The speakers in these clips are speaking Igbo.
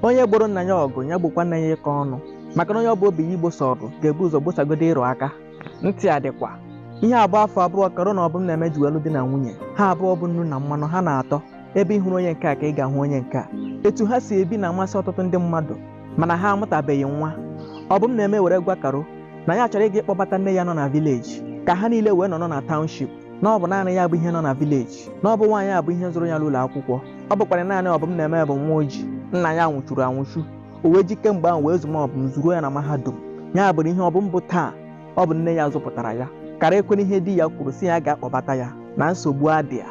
onye gboro nna ya ọgụ ya gbokwa nne ya ịkọ ọnụ maka na onye ọ bụ obi ya igbosa ọgụ ga-ebu ụzọ gbosagodo ịrụ aka ntị adịkwa ihe a bụ afọ abụọ karo na ọbụmneme ji wee lụọ di na nwunye ha abụọ bụ nnu na mmanụ ha na-atọ ebe ị hụrụ onye nke a ka ị ga-ahụ onye nke a etu ha si ebi na-amasị ọtụtụ ndị mmadụ mana ha amụtabeghị nwa ọbụmneme were gwa karo na ya chọrọ ịga ịkpọbata nne ya nọ na vileji ka ha niile wee nọrọ na taụnship na ọ bụ naanị ya bụ ihe nọ na vileji na ọ bụ nwaanyị a bụ ihe zụrụ ya n'ụlọ akwụkwọ ọ bụkwara naanị ọbụmneme bụ nwa o ji nna ya nwụchuru anwụchu o wee ji kemgbe ahụ wee zụma ọbụm zụruo ya na mahadum ya bụrụ ihe ọbụm bụ taa ọ bụ nne ya zụpụtara ya karo ekwena ihe di ya kwuru sị ya gaa kpọbata ya na nsogbu adịghị ya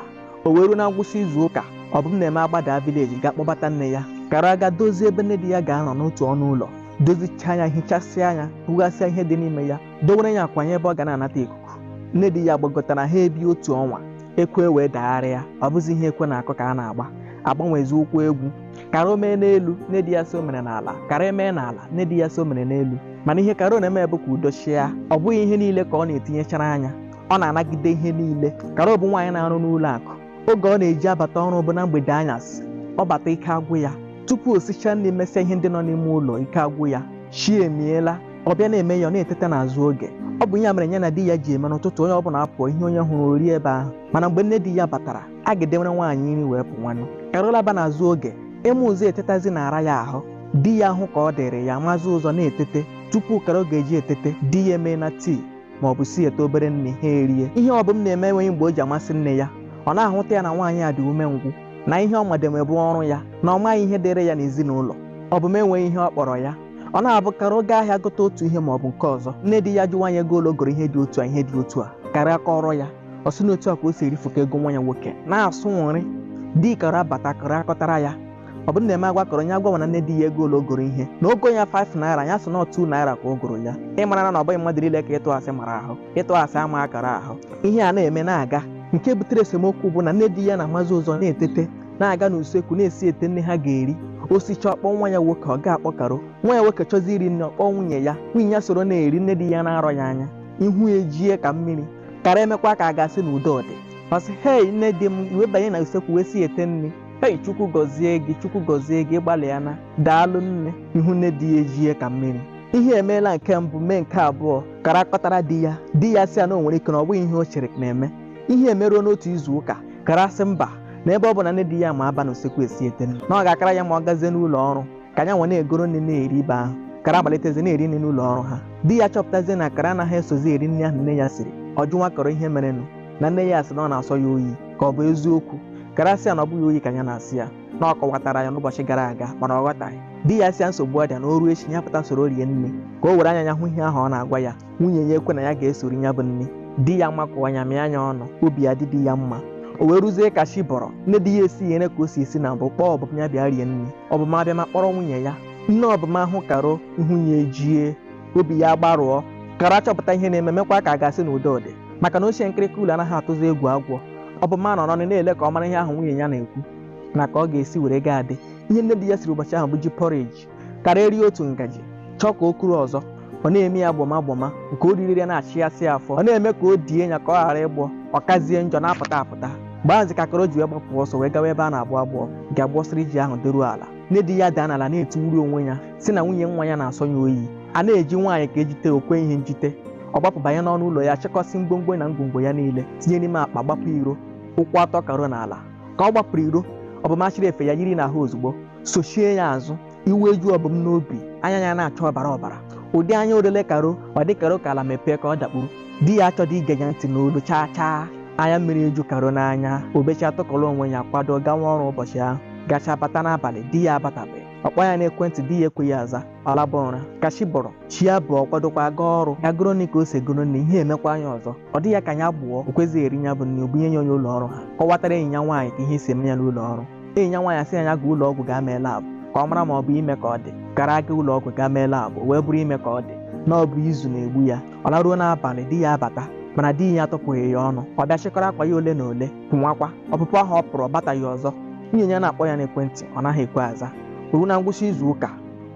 o wee ruo na ngwụsị izu ụka ọbụmneme agbada vileji ga kpọbata nne ya karo aga dozie ebe nne di ya ga-anọ n'otu ọnụ ụlọ dozichaa ya hichasịa ya bughasịa ihe dị n'ime ya dowere ya akwa n'ebe ọ ga na-anata ikuku nne di ya gbagotara ha ebie otu ọnwa ekwe wee dagharịa ọ bụzi ihe ekwe na-akụ ka a na-agba agbanwezi ụkwụ egwu karo mee n'elu nne di ya sị o mere n'ala karo mee n'ala nne di ya sị o mere n'elu mana ihe karo na-eme bụ ka udo chịa ọ bụghị ihe niile ka ọ na-etinyechara anya ọ na-anagide ihe niile karo bụ nwaanyị na-arụ n'ụlọ akụ oge ọ na-eji abata ọrụ bụ na mgbede anyasị ọ bata ike agwụ ya tupu o sichaa nri mesịa ihe ndị nọ n'ime ụlọ ike agwụ ya chi emiela ọ bịa na-eme ya ọ na-eteta n'azụ oge ọ bụ ya mere ya na di ya ji eme n'ụtụtụ onye ọbụla apụọ ihe onye hụrụ o rie ebe ahụ mana mgbe nne di ya batara a ga-edewere nwaanyị nri wee pụwanụ karo laba n'azụ oge ịma ụzọ etetazi na-ara ya ahụ di ya hụ ka ọ dịrị ya mazie ụzọ na-etete tupu karo ga-eji etete di ya emeena tii ma ọ bụ siete obere nri ha erie ihe ọbụm na-eme enweghị mgbe o ji amasị nne ya ọ na-ahụta ya na nwaanyị a dị umengwụ na ihe ọ madebe bụ ọrụ ya na ọ maghị ihe dịrị ya n'ezinụlọ ọbụm enweghị ihe ọ kpọrọ ya ọ na-abụ karo gaa ahịa gote otu ihe ma ọ bụ nke ọzọ nne di ya jụwa ya ego ole o goro ihe dị otu a ihe dị otu a karo kọọrọ ya ọ sị na otu a ka o si erifuka ego nwa ya nwoke na-asụ nri di karo abata karo akọtara ya ọbụmneme agwa karo ya gwama nne di ya ego ole o goro ihe na o go ya 5 naira ya sị na 2 naira ka o goro ya ị mara na ọ bụghị mmadụ niile ka ịtụ asị mara ahụ ịtụ asị amaghị karo ahụ ihe a na-eme na-aga nke butere esemokwu bụ na nne di ya na-amazi ụzọ na-etete na-aga n'usekwu na-esiete nri ha ga-eri o sichaa ọ kpọọ nwa ya nwoke ọ gaghị akpọ karo nwa ya nwoke chọzi iri nri ọ kpọọ nwunye ya nwunye ya soro na-eri nne di ya na-arọ ya anya ihu ejie ka mmiri karo emekwa ka a ga-asị na udo dị ọ sị hei nne di m i wee banye na usekwu wee siete nri hei chukwu gọzie gị chukwu gọzie gị ị gbalịana daalụ nne ihu nne di ya ejie ka mmiri ihe emeela nke mbụ mee nke abụọ karo akọtara di ya di ya sị ya na o nwere ike na ọ bụghị ihe o chere na-eme ihe emeruo n'otu izu ụka karo asị mba na ebe ọ bụ na nne di ya ma aba n'usekwu esite nri na ọ ga-akara ya mma ọ gazie n'ụlọ ọrụ ka ya nwa na-egoro nne na-eri ibe ahụ karo amalitezie na-eri nri n'ụlọ ọrụ ha di ya achọpụtazie na karo anaghị esozi eri nri ahụ nne ya siri ọ jụnwa karo ihe merenụ na nne ya sị na ọ na-asọ ya oyi ka ọ bụ eziokwu karo asị ya na ọ bụghị oyi ka ya na-asọ ya na ọ kọwatara ya n'ụbọchị gara aga mana ọ ghọtaghị di ya asị ya nsogbu adịghị na o ruo echi ya pụta soro rie nri ka o were anya ya hụ ihe ahụ ọ na-agwa ya nwunye ya ekwe na ya ga-eso eri ya bụ nri di ya amakụọ ya mịa ya ọnụ obi adị di ya mma o wee ruzie ka chi bọrọ nne di ya esie nri ka o si esi na mbụ kpọọ ọbụm ya bịa rie nri ọbụm abịa ma kpọrọ nwunye ya nne ọbụm ahụ karo ihu ya ejie obi ya agbarụọ karo achọpụta ihe na-eme mekwa ka a ga-asị na udo dị maka na ochie nkịrịka ụlọ anaghị atụzi egwu agwọ ọbụm anọrọnụ na-ele ka ọ mara ihe ahụ nwunye ya na-ekwu na ka ọ ga-esi were gaa ụdị ihe nne di ya siri ụbọchị ahụ bụ ji porridge karo erie otu ngaji chọọ ka o kuru ọzọ ọ na-eme ya gbọma gbọma nke o riri na-achịghasị ya afọ ọ na-eme ka o die ya ka ọ ghara ịgbọ ọ kazie njọ na-apụta apụta mgbe ahụzi ka karo ji wee gbapụ ọsọ wee gawa ebe a na-agbọ agbọ nke agbọsịrị ji ahụ dịruo ala nne di ya daa n'ala na-etiwuri onwe ya sị na nwunye nwa ya na-asọ ya oyi a na-eji nwaanyị ka e jite o kweghị njite ọ gbapụ banye n'ọnụ ụlọ ya chịkọsị ngwongwo na ngwongwo ya niile tinye n'ime akpa gbapụ iro ụkwụ atọ karo n'ala ka ọ gbapụrụ iro ọbụm achịrị efe ya yiri n'ahụ ozugbo sochie ya azụ iwe eju ọbụm n'obi anya ya na-acha ọbara ọbara ụdị anya o lere karo ọ dị karo ka ala mepee ka ọ dakpuru di ya achọghị ige ya ntị n'olu chaa chaa anya mmiri eju karo n'anya o bechaa tụkọrọ onwe ya kwado gawa ọrụ ụbọchị ahụ gacha bata n'abalị di ya abatabeghị ọ kpọọ ya n'ekwentị di ya ekweghị aza ọ laba ụra ka chi bọrọ chi abọọ ọ kwadokwa gaa ọrụ ya goro nri ka o si egoro nri ihe emekwaa ya ọzọ ọ dị ya ka ya gbọọ o kwezighị eri ya bụ nri o bunye ya onye ụlọ ọrụ ha kọwatara enyi ya nwaanyị ka ihe si eme ya n'ụlọ ọrụ enyi ya nwaanyị asị ya ya gaa ụlọ ọgwụ gaa mee lab ka ọ mara ma ọ bụ ime ka ọ dị karo aga ụlọ ọgwụ gaa mee lab wee bụrụ ime ka ọ dị na ọ bụ izu na-egbu ya ọ laruo n'abalị di ya abata mana di ya atụpụghị ya ọnụ ọ bịa chịkọrọ akwa ya ole na ole pụnwakwa ọpụpụ ahụ ọ pụrụ ọ bataghị ọzọ nwunye ya na-akpọ ya n'ekwentị ọ naghị ekwe aza ruo na ngwụsị izu ụka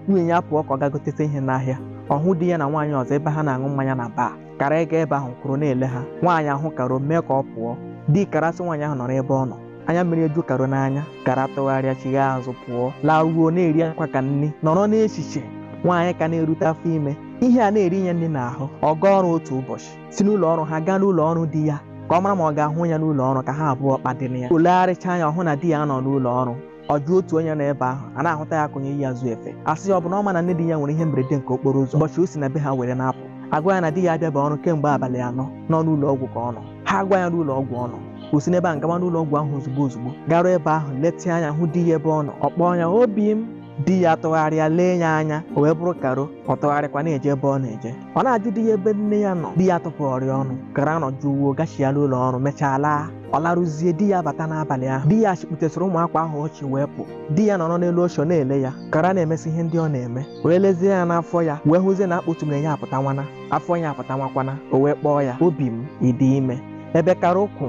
nwunye ya pụọ ka ọ gaa goteta ihe n'ahịa ọ hụ di ya na nwaanyị ọzọ ebe ha na-aṅụ mmanya na bar karo aga ebe ahụ kwụrụ na-ele ha nwaanyị ahụ karo mee ka ọ pụọ di karo asị nwaanyị ahụ nọrọ ebe ọ nọ anya mmiri eju karo n'anya karo atụgharịa chigha azụ pụọ laruo na-eri akwa ka nri nọrọ n'echiche nwaanyị ka na-erute afọ ime ihe a na-eri ya nri n'ahụ ọ gaa ọrụ otu ụbọchị si n'ụlọ ọrụ ha gaa n'ụlọ ọrụ di ya ka ọ mara ma ọ ga-ahụ ya n'ụlọ ọrụ ka ha abụọ kpadịrị ya o legharịchaa anya ọ hụ na di ya anọghị n'ụlọ ọrụ ọ jụọ otu onye nọ ebe ahụ a na-ahụta ya ka onye yi azụ efe asị ya ọ bụ na ọ maghị na nne di ya nwere ihe mberede nke okporo ụzọ ụbọchị o si na be ha were na-apụ agwa ya na di ya abịabeghị ọrụ kemgbe abalị anọ na ọ n'ụlọ ọgwụ ka ọ nọ ha agwa ya n'ụlọ ọgwụ ọ nọ ka o si n'ebe ahụ gawa n'ụlọ ọgwụ ahụ ozugbo ozugbo garuo ebe ahụ letịa anya hụ di ya ebe ọ nọ ọ kpọọ ya obi m di ya tụgharịa lee ya anya o wee bụrụ karo ọ tụgharịkwa na-eje ebe ọ na-eje ọ na-ajụ di ya ebe nne ya nọ di ya tụpụrụ ya ọnụ karo anọ jụụ wee gachiala ụlọ ọrụ mechaa laa ọ larụzie di ya abata n'abalị ahụ di ya chịkputesịrị ụmụ akwa ahụ ọ chị wee pụ di ya nọrọ n'elu oche na-ele ya karo na-emesi ihe ndị ọ na-eme wee lezie ya n'afọ ya wee hụzie na akpa otume ya apụtanwana afọ ya apụtanwakwana o wee kpọọ ya obi m ị dị ime ebe karo kwụ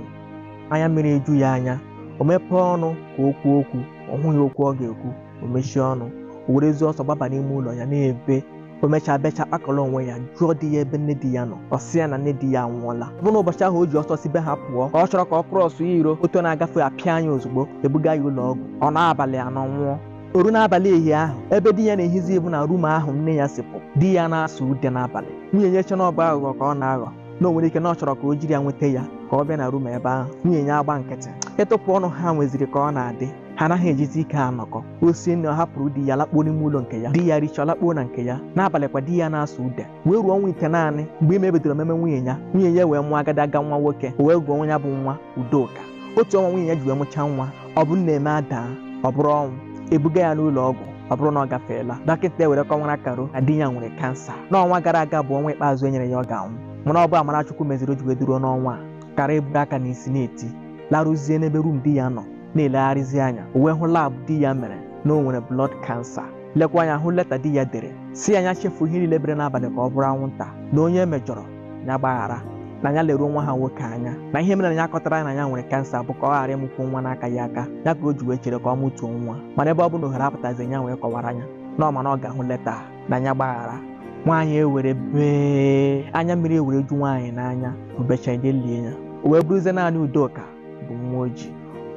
anya mmiri eju ya anya o mepee ọnụ ka o kwuo okwu ọ hụghị okwu ọ ga-ekwu o mechie ọnụ o werezie ọsọ gbaba n'ime ụlọ ya na-ebe o mechaa bechaa kpakọrọ onwe ya jụọ di ya ebe nne di ya nọ ọ sị ya na nne di ya anwụọla ọ bụ na ụbọchị ahụ o ji ọsọ si be ha pụọ ka ọ chọrọ ka ọ krọsụ ya iro moto na-agafe apịa ya ozugbo e buga ya ụlọ ọgwụ ọ nọọ abalị anọ nwụọ o ruo n'abalị ehi ahụ ebe di ya na-ehizi bụ na rum ahụ nne ya si pụ di ya na-asụ ude n'abalị nwunye ya eche na ọ bụ aghụghọ ka ọ na-aghọ na o nwere ike na ọ chọrọ ka o jiri ya nweta ya ka ọ bịa na rum ebe ahụ nwunye ya agba nkịtị ịtụpụ ọnụ ha nweziri ka ọ na-adị ha anaghị ejizi ike anọkọ o sie nri ọ hapụrụ di ya lakpuo n'ime ụlọ nke ya di ya richaa lakpuo na nke ya n'abalị kwa di ya na-asụ ude wee ruo ọnwa itenaanị mgbe ime bidoro meme nwunye ya nwunye ya wee mụọ agadaga nwa nwoke o wee gụọ ya bụ nwa udoka otu ọnwa nwunye ya ji wee mụchaa nwa ọbụmneme adaa ọ bụrụ ọnwụ e buga ya n'ụlọ ọgwụ ọ bụrụ na ọ gafeela dọkịta ewere kọwara karo na di ya nwere kansa n'ọnwa gara aga bụ ọnwa ikpeazụ e nyere ya ọ ga-anwụ mana ọ bụ amara chukwu meziri o ji wee dịruo n'ọnwa a karo eburu aka n'isi na-eti larụzie n'ebe rum di ya nọ na-elegharịzi anya o wee hụ labụ di ya mere na o nwere blọd kansa lekwa anya hụ leta di ya dere sị ya ya chefuo ihe niile bere n'abalị ka ọ bụrụ anwụnta na onye e mejọrọ ya gbaghara na ya leruo nwa ha nwoke anya na ihe mere na ya akọtara ya na ya nwere kansa bụ ka ọ ghara ịmụkwo nwa n'akaghị aka ya ka o ji wee chere ka ọ mụtuo nwa mana ebe ọ bụ na ohere apụtazi ya wee kọwara ya na ọ ma na ọ ga-ahụ leta a, na ya gbaghara nwaanyị ewere bee anya mmiri ewere ju nwaanyị n'anya o bechaa e je lie ya o wee bụrụzie naanị udoka bụ nwa o ji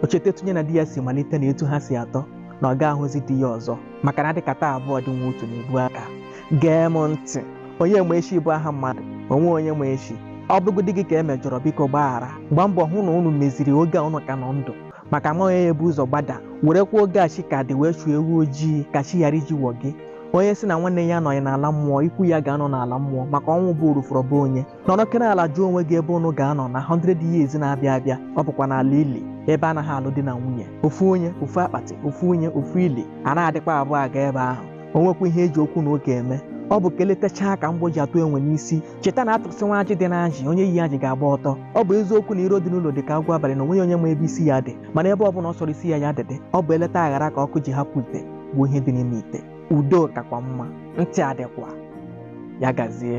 o cheta etu ya na di ya si malite na etu ha si atọ na ọ ga-ahụzi di ya ọzọ maka na dịka taa abụọ dị nwa otu na-ebu aka gee m ntị onye ma echi bụ aha mmadụ o nwe onye ma echi ọ bụrụgodị gị ka e mejọrọ biko gbaghara gbaa mbọ hụ na unu meziri oge a unu ka nọ ndụ maka ama onye ya-ebu ụzọ gbada werekwa oge a chi ka dị wee chụọ ewu ojii ka chi ghara iji wọ gị onye si na nwanne ya anọghị n'ala mmụọ ikwu ya ga-anọ n'ala mmụọ maka ọnwụ bụ orufọrọ bụ onye nọrọkene ala jụọ onwe gị ebe unu ga-anọ na 100 years na-abịa abịa ọ bụkwa n'ala ili ebe a naghị alụ di na nwunye ofu onye ofu akpatị ofu onye ofu ili a na-adịkwa abụọ aga ebe ahụ o nwekwa ihe e ji okwu na ụka eme ọ bụ ka e letachaa ka mgbọ ji atụ enwe n'isi cheta na a tụsịwa ajị dị n'ajị onye yi ajị ga-agba ọtọ ọ bụ eziokwu na iro dị n'ụlọ dị ka agwọ abalị na o nweghị onye ma ebe isi ya dị mana ebe ọbụla ọ sọrọ isi ya ya dịdị ọ bụ eleta aghara ka ọkụ ji hapụ ite gbuo ihe dị n'ime ite udo kakwa mma ntị adịkwa ya gazie